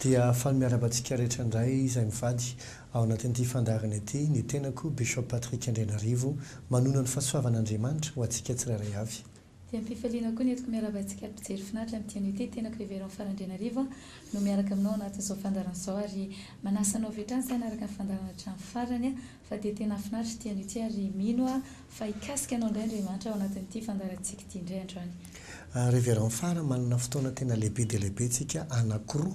Dia faly miarahaba antsika rehetra indray izay mivady ao anatin'ity fandaharana ity, ny tenako Bishop Patrick Andrianarivo manona ny fahasoavan'Andriamanitra ho antsika tsirairay avy. Dia amin'ny fifaliana koa ny entiko miarahaba antsika ary mpijery finaritra amin'ity anio ity, tenako Reverend Fara Andrianarivo no miaraka aminao anatin'izao fandaharana izao ary manasa anao avy hatrany izay hanaraka ny fandaharana hatramin'ny farany fa dia tena hafinaritra ity anio ity ary mino aho fa hikasika anao indray Andriamanitra ao anatin'ity fandaharantsika ity indray androany. Reverend Fara, manana fotoana tena lehibe dia lehibe tsika anakiroa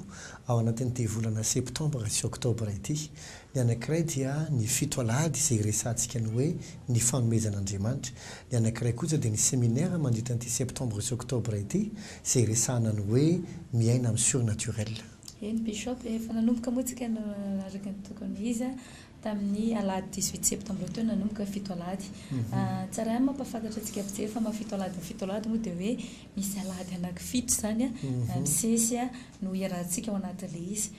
ao anatin'ity volana septembre sy octobre ity, Ny anankiray dia ny fito alahady izay iresahantsika ny hoe ny fanomezan'Andriamanitra. Ny anankiray kosa dia ny seminaire mandritra an'ity septembre sy octobre ity izay iresahana ny hoe miaina amin'ny surnaturel. Eny Bishop e, efa nanomboka moa tsika araka ny tokony izy a, tamin'ny alahady dix huit septembre teo nanomboka fito alahady. Tsara ihany mampahafantatra antsika mpijery fa maha fito alahady ny fito alahady moa dia hoe misy alahady anaky fito izany a, misesy a, no iarahantsika ao anatin'ilay izy.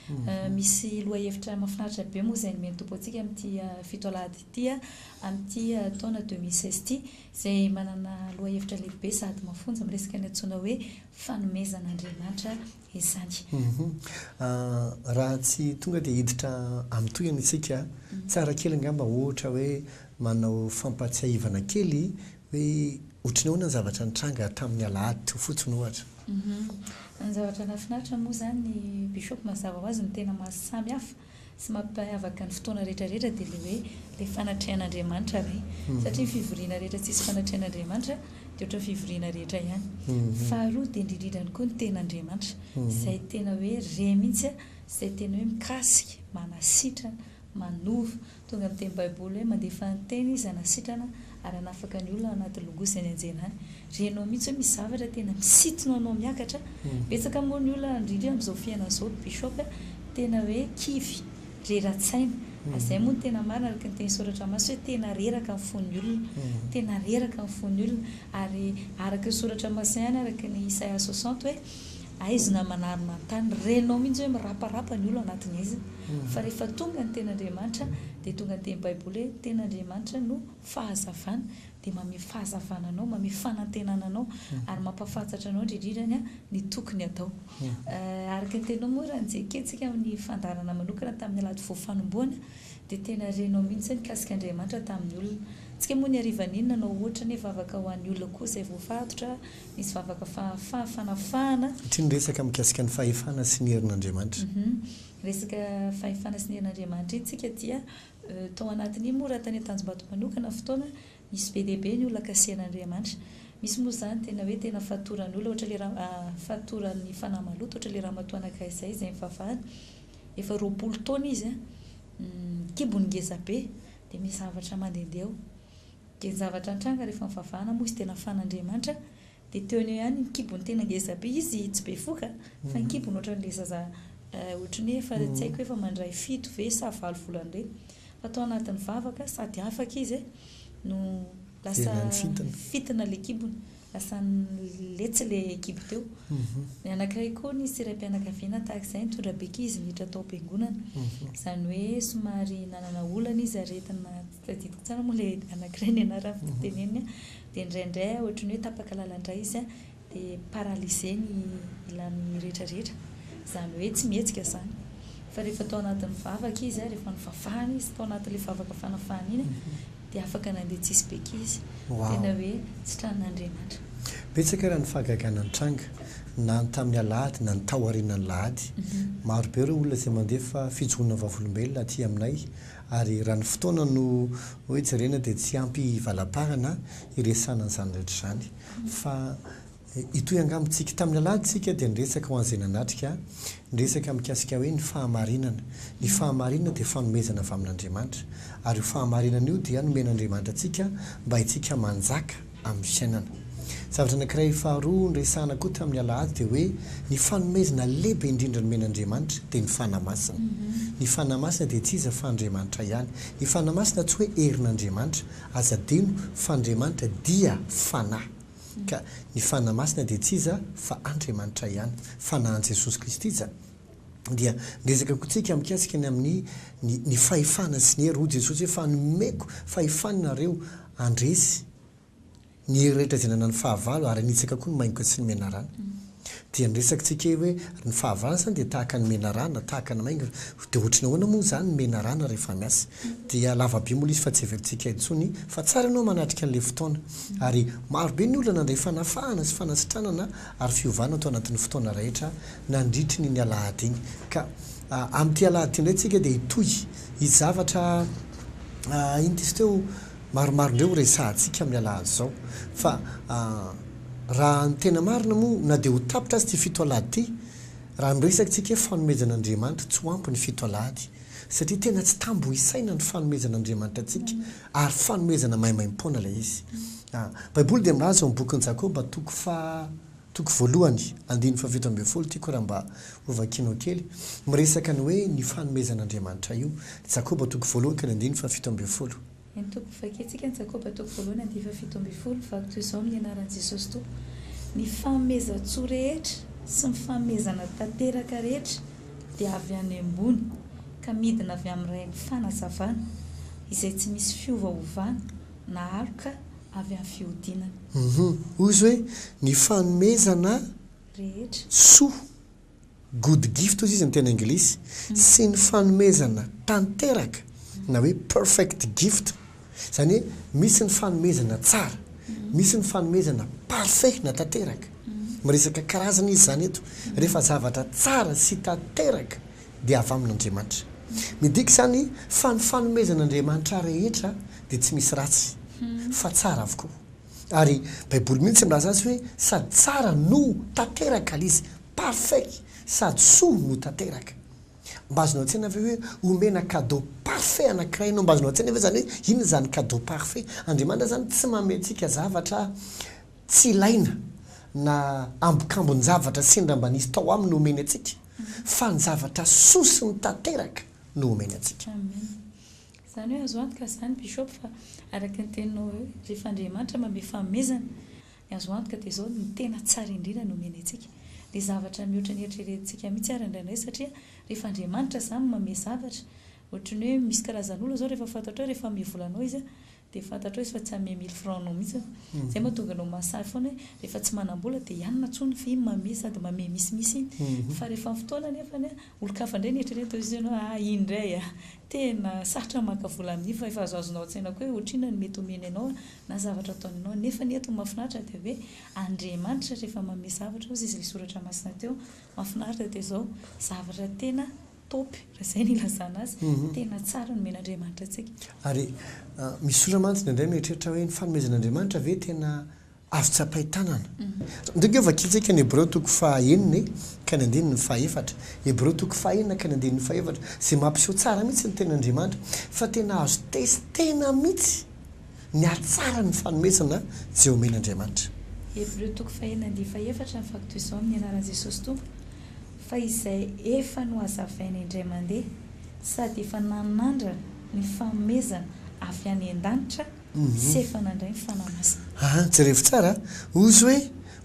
Misy lohahevitra mahafinaritra be moa izay nomen'ny Tompo antsika amin'ity fito alahady ity amin'ity taona deux mille seize ity, izay manana lohahevitra lehibe sady mafonja miresaka ny antsoina hoe fanomezan'Andriamanitra izany. Raha tsy tonga dia hiditra amin'ny tohiny isika, tsara kely angamba ohatra hoe manao fampahatsiahivana kely Hoe ohatry ny ahoana ny zavatra nitranga tamin'ny alahady teo fotsiny ohatra? Uhum. Ny zavatra nahafinaritra moa izany Bishop mazava ho azy no tena maha samy hafa sy mampiavaka ny fotoana rehetra rehetra dia ilay hoe ilay fanatrehan'Andriamanitra re. Satria ny fivoriana rehetra tsisy fanatrehan'Andriamanitra dia ohatran'ny fivoriana rehetra ihany. Faharoa dia indridridrany koa ny ten'Andriamanitra izay tena hoe re mihitsy izay tena hoe mikasika, manasitrana, manova. Tonga amin'ny teny baiboly hoe mandefa ny teny izy hanasitrana ary hanafaka ny olona ao anaty logoa izay nianjera any. Renao mihitsy hoe misy zavatra tena misintona anao miakatra. Betsaka moa ny olona indrindra amin'izao fiainana izao ry bishop a, tena hoe kivy, rera-tsaina. Ary izay moa no tena marina araka ny teny soratra masina hoe tena reraka ny fon'ny olona. Tena reraka ny fon'ny olona. Ary araka ny soratra masina ihany araka ny isaia soixante hoe. aizina manary manontany, renao mihitsy hoe miraparapa ny olo anatin'ny aizina, fa rehefa tonga ny ten'Andriamanitra dia tonga ny teny baiboly hoe ten'Andriamanitra no fahazavana dia mamehy fahazavana anao, mamehy fanantenana anao ary mampafantsatra anao indrindrindra ny tokony atao. Araka ny teninao moa raha nijekentsika amin'ny fandaharana manokana tamin'ny alahady voafanombohana dia tena renao mihitsy ny mikasika Andriamanitra tamin'ny olona, antsika moa ny harivan'iny nanao ohatra anie vavaka ho an'ny olona koa izay voafatotra, Misy vavaka fahafaha, fanafahana. Satria niresaka mikasika ny fahefana sy ny herin'Andriamanitra. Resaka fahefana sy ny herin'Andriamanitra iny tsika dia tao anatin'iny moa raha tany Antanjombato manokana fotoana misy be dia be ny olona kasen'Andriamanitra. Misy moa izany tena hoe tena fatoran'olona ohatra le ra- fatoran'ny fanahy maloto ohatra le ramatoa anankiray izay izay nivavahana efa roapolo taona izy an, kibony ngezabe dia misy zavatra mandehandeha ao. Dia ny zavatra nitranga rehefa nivavahana moa izy tena fan'Andriamanitra dia teo an'io ihany ny kibony tena ngezabe izy tsy bevoka fa ny kibony ohatran'ilay zaza ohatry ny hoe efa tsy haiko hoe efa mandray fito ve sa valo volana ireny fa tao anatin'ny vavaka sady afaka izy no lasa fintina ilay kibony lasa letsy ilay kibo teo ny anankiray koa nisy raim-pianakaviana tahaka izay nitondra beky izy niditra tao am-piangonana izany hoe somary nanana olana izy aretina Tadidiko tsara moa ilay anankiray ny anarany fa tsy teneniny an! Dia indraindray ohatry ny hoe tapaka lalandray izy an! Dia paralysé ny ilany rehetrarehetra. Izany hoe tsy mihetsika izany. Fa rehefa tao anatin'ny vavaka izy an! Rehefa novavahana izy tao anatin'ilay vavaka fanafahana iny an! Dia afaka nandeha tsisy beky izy. Tena hoe tsitran'Andriamanitra. Betsaka ary ny fahagagana nitranga, na ny tamin'ny alahady na ny taorianan'alahady. Marobe ireo olona izay mandefa fijoroana vavolombelona aty aminay, Ary raha ny fotoana no hoe jerena dia tsy ampy hivalamparana hiresahana an'izany rehetra izany. Fa hitohy angamba isika. Tamin'ny alahady isika dia niresaka ho an'izay nanatrika, niresaka mikasika hoe ny fahamarinana. Ny fahamarinana dia fanomezana avy amin'Andriamanitra. Ary io fahamarinana io dia nomen'Andriamanitra antsika mba haintsika manjaka. amin'ny fiainana. Zavatra anankiray faharoa niresahana koa tamin'ny alahady dia hoe ny fanomezana lehibe indrindra nomen'Andriamanitra dia ny Fanahy Masina. Ny Fanahy Masina dia tsy iza fa Andriamanitra ihany. Ny Fanahy Masina tsy hoe herin'Andriamanitra, aza adino fa Andriamanitra dia Fanahy. Ka ny Fanahy Masina dia tsy iza fa Andriamanitra ihany. Fanahin'i Jesosy Kristy izany. Dia niresaka koa tsika mikasika ny amin'ny ny ny fahefana sy ny hery. Hoy Jesosy hoe fa nomeko fahefana anareo handresy ny hery rehetra izay nanana ny fahavalo ary hanitsaka koa ny maingoka sy ny menarana. Dia niresaka tsika eo hoe ny fahavalony izany dia tahaka ny menarana, tahaka ny maingoka. Dia ohatry ny ahoana moa izany ny menarana rehefa miasa? Dia lava be moa ilay izy fa tsy heverintsika intsony fa tsara ianao manatrika an'ilay fotoana. Ary maro be ny olona nandray fanafahana sy fanasitranana ary fiovana tao anatin'ny fotoana rehetra nandritry ny ny alahady iny. Ka amin'ity alahady ity indray tsika dia hitohy Hisy zavatra, ah, iny diso teo maromaro indray ho resahantsika amin'ny alahadin'izao. Fa, ah, raha ny tena marina moa, na dia ho tapitra aza ity fito alahady ity, raha niresaka isika hoe fanomezan' Andriamanitra, tsy ho ampy ny fito alahady. Satria tena tsy tambo isaina ny fanomezan' Andriamanitra antsika, ary fanomezana maimaim-poana ilay izy. Ah, Baiboly dia milaza ao amin'ny bokin'i Jakoba, toko faha. Toko voalohany, andininy fahafito ambin'ny folo, tiako raha mba ho vakianao kely. Miresaka ny hoe ny fanomezan'Andriamanitra io. Jakoba toko voalohany ka ny andininy fahafito ambin'ny folo. Ny toko ho vakiantsika ny Jakoba toko voalohany andininy fahafito ambin'ny folo, Vakiko toy izao amin'ny anaran'i Jesosy Tompo, ny fanomezan-tsoa rehetra sy ny fanomezana tanteraka rehetra dia avy any ambony ka midina avy amin'ny Ray ny fanazavana izay tsy misy fiovaovana na aloka avy amin'ny fihodinana. Uhum. Hoy izy hoe, Ny fanomezana rehetra. Soa, good gift hoy izy ny teny anglisy, sy ny fanomezana tanteraka na hoe perfect gift. Izany hoe misy ny fanomezana tsara, misy ny fanomezana parfait na tanteraka. Miresaka karazana izy izany eto. Rehefa zavatra tsara sy tanteraka dia avy amin'Andriamanitra. Midika izany fa ny fanomezan'Andriamanitra rehetra dia tsy misy ratsy fa tsara avokoa. Ary Baiboly mihitsy milaza azy hoe sady tsara no tanteraka ilay izy, parfait, sady soa no tanteraka. Mba azonao an-tsaina ve hoe omena cadeau parfait anankiray ianao? Mba azonao an-tsaina ve izany hoe inona izany cadeau parfait? Andriamanitra izany tsy manome antsika zavatra tsy ilaina na ambokambon-javatra sendra mba nisy tao aminy no omeny antsika. fa ny zavatra soa sy ny tanteraka no omeny antsika. Amen. Izany hoe azo antoka izany Bishop fa araka ny teninao hoe rehefa Andriamanitra manome fanomezana, ny azo antoka dia izao ny tena tsara indrindra no omeny antsika. Dia zavatra mihoatra ny eritreretintsika mihitsy ary indraindray satria rehefa Andriamanitra izany manome zavatra, ohatry ny hoe misy karazan'olona izao rehefa fatatra hoe rehefa hanome vola anao izy dia fantatrao izy fa tsy hanome mille francs anao mihitsy an! izay mahatonga anao mahasahy foana hoe rehefa tsy manam-bola dia hianona intsony fa iny manome sady manome misimisy iny fa rehefa amin'ny fotoana anefany an! olon-kafa indray no eritreretinao izy hoe aa iny indray an! tena sarotra ny maka vola amin'iny fa efa azoazonao an-tsaina koa hoe ohatrinona no mety homeny anao an! na zavatra ataony anao nefa ny eto ny mahafinaritra dia hoe Andriamanitra rehefa manome zavatra hozy izy ilay soratra masina teo mahafinaritra dia izao zavatra tena top raha izay no ilazana azy, tena tsara ny omen'Andriamanitra antsika. Ary misy olona mantsy indraindray mieritreritra hoe ny fanomezan'Andriamanitra ve tena azo tsapain-tanana? Ndeha nge vakintsika ny Hebreo toko faha enina e, ka ny andininy faha efatra. Hebreo toko faha enina ka ny andininy faha efatra, izay mampiseho tsara mihitsy ny tenan'Andriamanitra fa tena azo testena mihitsy ny hatsaran'ny fanomezana izay omen'Andriamanitra. Hebreo toko faha enina andininy faha efatra, ny vakiko toy izao amin'ny anaran'i Jesosy Tompo, fa izay efa nohazavaina indray mandeha sady efa nanandrana ny fanomezana avy any an-danitra sy efa nandray ny Fanahy Masina. An, jerevo tsara a! Ozy hoe,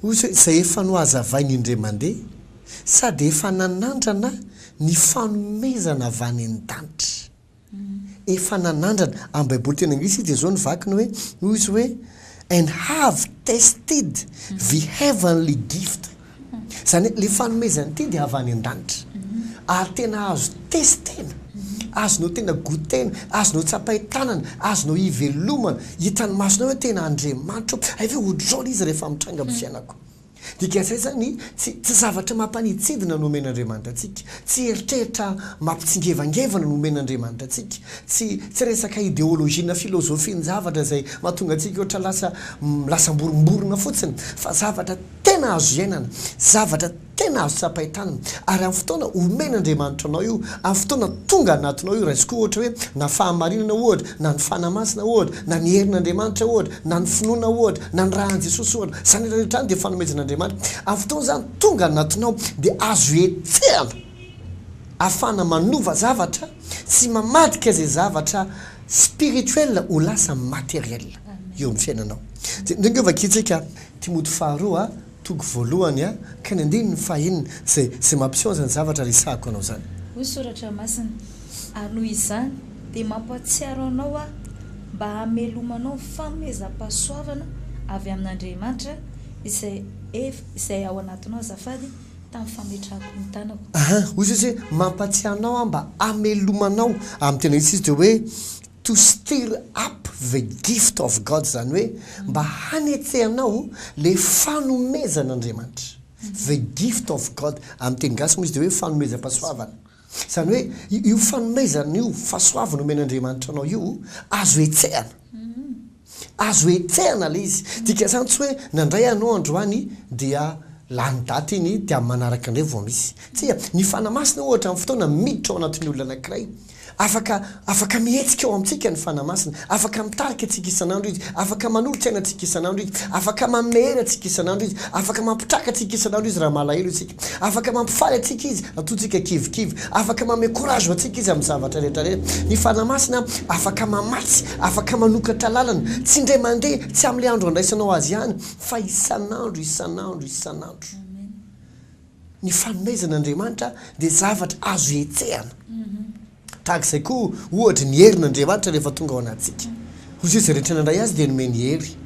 ozy hoe, izay efa nohazavaina indray mandeha sady efa nanandrana ny fanomezana avy any an-danitra. Efa nanandrana. Amin'ny Baiboly teny anglisy izy dia izao no vakiny hoe, hoy izy hoe, And have tasted the heavenly gift. Izany hoe, ilay fanomezana ity dia avy any an-danitra. Ary tena azo testena. Azonao tena goûter-na. Azonao tsapain-tanana. Azonao ivelomana. Hitan'ny masonao hoe tena Andriamanitra io. Hay ve ohatr'izao ilay izy rehefa mitranga amin'ny fiainako. Dikan'izay izany, tsy tsy zavatra mampanitsidina no omen'Andriamanitra antsika, tsy eritreritra mampitsingevangevana no omen'Andriamanitra antsika, tsy tsy resaka ideolojia na filozofian-javatra izay mahatonga antsika ohatra lasa lasa amborimborina fotsiny, fa zavatra tena azo iainana, zavatra tena azo tsapain-tanana, ary amin'ny fotoana omen'Andriamanitra anao io, amin'ny fotoana tonga anatinao io, raisiko ohatra hoe na fahamarinana ohatra, na ny Fanahy Masina ohatra, na ny herin'Andriamanitra ohatra, na ny finoana ohatra, na ny raha an'i Jesosy ohatra, izany rehetra izany dia fanomezan'Andriamanitra. Amin'ny fotoana izany, tonga anatinao dia azo hetsehana, ahafahana manova zavatra sy mamadika izay zavatra spirituel ho lasa materiel eo amin'ny fiainanao. Dia ndrengeo vakintsika Timoty faharoa. Toko voalohany a, ka ny andininy fahenina, zay, zay mampiseho an'izany zavatra resahako anao zany. Hoy Soratra Masina, Ary noho izany, dia mampahatsiaro anao aho, mba hamelomanao ny famehezam-pahasoavana avy amin'Andriamanitra, izay efa, izay ao anatinao azafady, tamin'ny fametrahako ny tanako. Aha, hoy Jesosy hoe, Mampahatsiaro anao aho mba hamelomanao, amin'ny tena izy izy dia hoe, To stir up the gift of God izany hoe mba hanetsehanao le fanomezan Andriamanitra. The gift of God amin'ny teny gasy moa izy dia hoe fanomezam-pasoavana. Izany hoe io fanomezana io, fasoavana omen Andriamanitra anao io azo hetsehana. Azo etsehana ilay izy. Dika izany tsy hoe nandray anao androany dia lany daty iny dia amin'ny manaraka indray vao misy. Tsia, ny Fanahy Masina ohatra amin'ny fotoana miditra ao anatin'ny olona anankiray. Afaka afaka mihetsika ao amintsika ny Fanahy Masina. Afaka mitarika antsika isan'andro Izy. Afaka manolo-tsaina antsika isan'andro Izy. Afaka manome hery antsika isan'andro Izy. Afaka mampitraka antsika isan'andro Izy raha malahelo isika. Afaka mampifaly antsika Izy raha toa isika kivikivy. Afaka manome courage antsika Izy amin'ny zavatra rehetra rehetra. Ny Fanahy Masina afaka mamatsy Afaka manokatra lalana, tsy indray mandeha, tsy amin'ilay andro handraisanao azy ihany, fa isan'andro, isan'andro, isan'andro. Ny fanomezana Andriamanitra dia zavatra azo hetsehana. Tahaka izay koa, ohatra, ny herin' Andriamanitra rehefa tonga ao anatintsika. Hoy Jesoa, izay rehetra nandray Azy dia nomeny hery.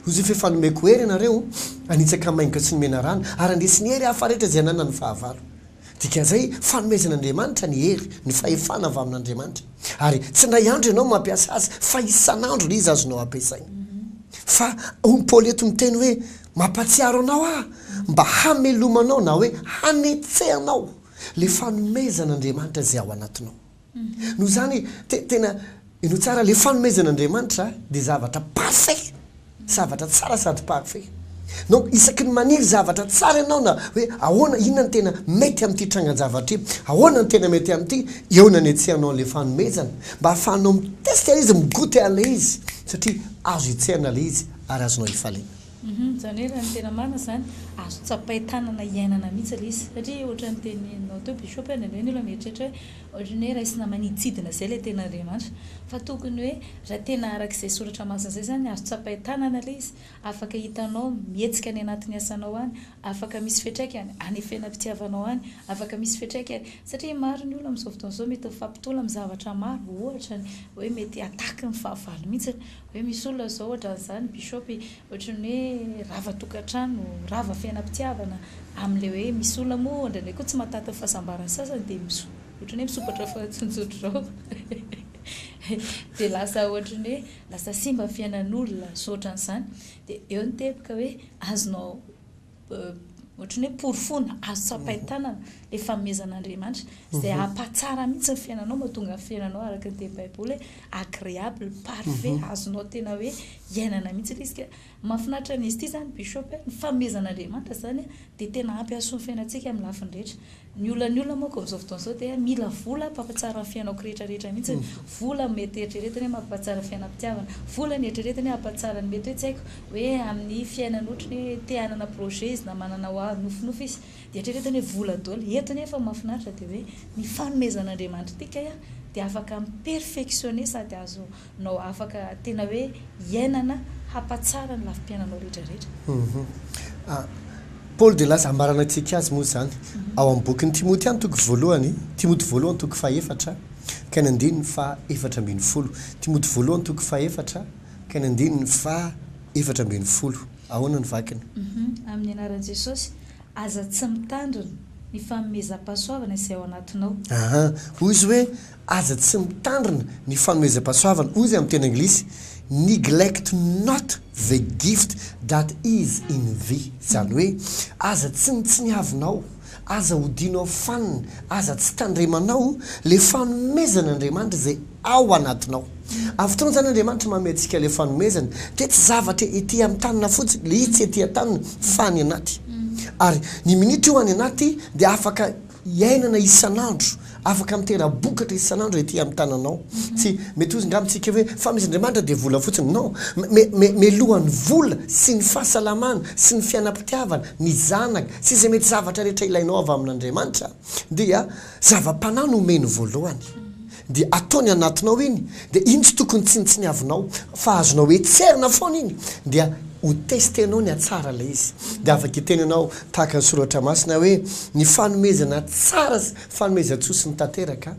Hoy Jesoa, efa nomeko hery ianareo, hanitsaka maingoka tsy nomena rano, ary handresy ny hery hafa rehetra izay ananan'ny fahavalo. Dikan'izay, fanomezan'Andriamanitra ny hery, ny fahefana avy amin'Andriamanitra. Ary tsy indray andro ianao mampiasa azy fa isan'andro ilay izy azonao ampiasaina. Fa hoy ny Paoly eto miteny hoe, Mampahatsiaro anao aho mba hamelomanao na hoe hanetsehanao ilay fanomezan'Andriamanitra izay ao anatinao. Noho izany, te, tena, inoa tsara, ilay fanomezan' Andriamanitra dia zavatra parfait, zavatra tsara sady parfait. Donc, isaky ny maniry zavatra tsara ianao na hoe ahoana, inona no tena mety amin'ity trangan-javatra ity, ahoana no tena mety amin'ity, eo no anetsehanao an'ilay fanomezana, mba ahafahanao mi-tester ilay izy, mi-goûter an'ilay izy, satria azo hetsehana ilay izy ary azonao ifaliana. Humm, izany hoe raha ny tena marina izany, azo tsapain-tanana iainana mihitsy ilay izy. Satria ohatran'ny teneninao teo Bishop hoe indraindray ny olona mieritreritra hoe, Ohatry ny hoe raisina maniditsidina izay ilay tena Andriamanitra. Fa tokony hoe raha tena araka izay soratra masina izay izany, azo tsapain-tanana ilay izy, afaka hitanao mihetsika any anatin'ny asanao any, afaka misy fiatraikany any fiainam-pitiavanao any, afaka misy fiatraikany, satria maro ny olona amin'izao fotoana izao mety mifampitolona amin'ny zavatra maro, ohatra ny hoe mety attaque ny fahavalo mihitsy, hoe misy olona izao ohatran'izany, bishop, Ohatran'ny hoe rava tokantrano, rava fiainam-pitiavana, amin'ilay hoe misy olona moa indraindray koa tsy mahataka ny fahasambaran'ny sasany dia miso- ohatran'ny hoe misokatra fahatsinjotra izao. Dia lasa ohatran'ny hoe lasa simba ny fiainan'olona, misaotra an'izany. Dia eo ny teboka hoe azonao. ohatran'ny hoe porofoana, azo tsapain-tanana ilay fanomezan'Andriamanitra, izay mhm. hampatsara mihitsy ny fiainanao, mahatonga ny fiainanao araka ny teny Baiboly hoe agréable, parfait, mhm. azonao tena hoe iainana mihitsy ilay izy. Mahafinaritra an'izy ity izany, Bishop, ny fanomezan'Andriamanitra izany dia tena ampy hasoa ny fiainantsika amin'ny lafiny rehetra. Ny olan'ny olona manko amin'izao fotoana izao dia mila vola hampampatsara ny fiainako rehetra rehetra mihitsy, vola no mety eritreretiny hoe mampampatsara ny fiainam-pitiavana, vola no eritreretiny hoe hampatsara ny mety hoe tsy haiko hoe amin'ny fiainany ohatry ny hoe te hanana projet izy na manana ho avy nofinofy izy dia eritreretiny hoe vola daholo, eto nefa ny mahafinaritra dia hoe ny fanomezan'Andriamanitra antsika dia afaka mi-perfectionner sady azo nao afaka tena hoe iainana hampatsara ny lafim-piainanao rehetra rehetra. Hum Paoly dia lasa ambarana antsika azy moa izany ao amin'ny bokin'i Timoty ihany toko voalohany, Timoty voalohany toko fahefatra ka ny andininy faha efatra ambin'ny folo, Timoty voalohany toko faha efatra ka ny andininy faha efatra ambin'ny folo, ahoana ny vakiny? Hum Amin'ny anaran'i Jesosy, aza tsy mitandrina ny fanomezam-pahasoavana izay ao anatinao. Aha, hoy izy hoe, Aza tsy mitandrina ny fanomezam-pahasoavana, hoy izy amin'ny teny anglisy, Neglect not the gift that is in thee, izany hoe, aza tsinontsiniavinao, aza odianao fanina, aza tsy tandremanao ilay fanomezan'Andriamanitra izay ao anatinao. Amin'ny fotoana izany Andriamanitra manome antsika ilay fanomezana, dia tsy zavatra ety an-tanana fotsiny, ilay izy tsy ety an-tanana fa any anaty. Ary ny minitra io any anaty dia afaka iainana isan'andro, afaka mitera-bokatra isan'andro ety amin'ny tananao. Tsy, mety ho izy angamba tsika hoe, fa misy Andriamanitra dia vola fotsiny. Non! Me, me, melohan'ny vola sy ny fahasalamana sy ny fianam-pitiavana, ny zanaka sy izay mety zavatra rehetra ilainao avy amin'Andriamanitra dia zava-panahy no omeny voalohany. dia atao ny anatinao iny dia iny tsy tokony tsinitsiniavinao fa azonao etserina foana iny dia ho testenao ny hatsara ilay izy dia afaka hiteny ianao tahaka ny soratra masina hoe ny fanomezana tsara sy fanomezan-tsoa sy ny tanteraka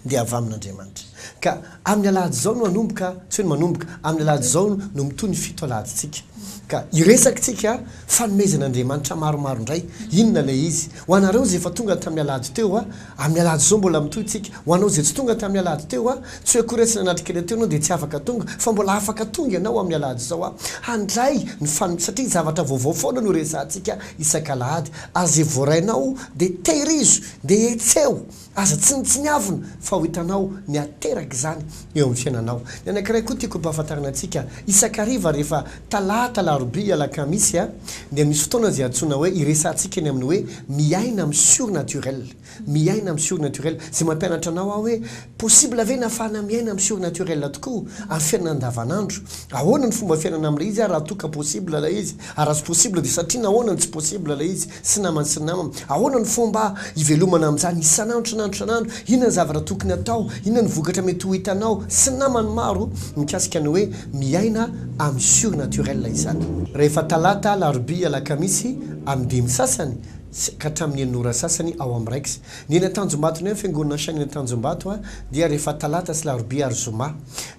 dia avy amin'Andriamanitra ka amin'ny alahady izao no hanomboka tsy hoe ny manomboka amin'ny alahady izao no mitohy ny fito alahadintsika ka iresakintsika fanomezan'Andriamanitra maromaro indray inona ilay izy ho anareo izay efa tonga tamin'ny alahady teo a Amin'ny alahady izao mbola mitohy tsika. Ho anao izay tsy tonga tamin'ny alahady teo a, tsy hoe akory aho tsy nanatri kely teo ianao dia tsy afaka tonga, fa mbola afaka tonga ianao amin'ny alahady izao a, handray ny fanm satria zavatra vaovao foana no resahantsika isak'alahady, ary izay voarainao dia tehirizo, dia hetseho, aza tsinitsinyavina fa ho hitanao ny haterak'izany eo amin'ny fiainanao. Ny anankiray koa tiako ampahafantarina antsika, isak'hariva rehefa. Talata, Alarobia, Alakamisy a, dia misy fotoana izay antsoina hoe, iresahantsika eny amin'ny hoe miaina amin'ny surnaturel. Miaina amin'ny surnaturel. Izay mampianatra anao aho hoe, possible ve ny hahafahana miaina amin'ny surnaturel tokoa amin'ny fiainana andavanandro? Ahoana ny fomba fiainana amin'ilay izy ary raha toa ka possible ilay izy? Ary raha tsy possible dia satria nahoana no tsy possible ilay izy? Tsy namany sy nama. Ahoana no fomba hivelomana amin'izany isan'andro isan'andro isan'andro? Inona ny zavatra tokony hatao? Inona ny vokatra mety ho hitanao sy namany maro mikasika ny hoe miaina amin'ny surnaturel izany? Rehefa talata, alarobia, alakamisy, amin'ny dimy sasany sy ka hatramin'ny enina ora sasany ao amin'ny rex. Ny eny Antanjombato ny any fiangonana Shine eny Antanjombato dia rehefa talata sy alarobia ary zoma.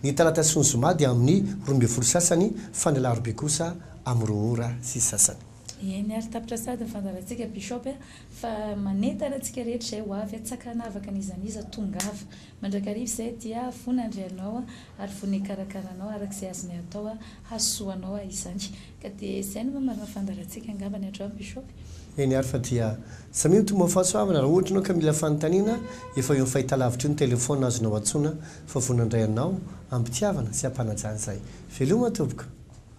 Ny talata sy ny zoma dia amin'ny roa ambin'ny folo sasany fa ny alarobia kosa amin'ny roa ora sy sasany. Eny ary tapitra sahady ny fandaharantsika Bishop a! Fa manentana antsika rehetra izay ho avy tsy ankanavaka n'iza n'iza tongava mandrakariva izay dia voa nandry anao ary voa nikarakara anao araka izay azony atao hahasoa anao izany ka dia izay no mamarana fandaharantsika angamba ny androany Bishop. Eny ary fa dia samy eo ny tombanfahasoavana raha ohatra ianao ka mila fanontaniana efa eo amin'ny fahitalavitra eo ny téléphone azonao antsoina fa voa nandray anao ampitiavana sy ampanajana izay. Veloma tompoko.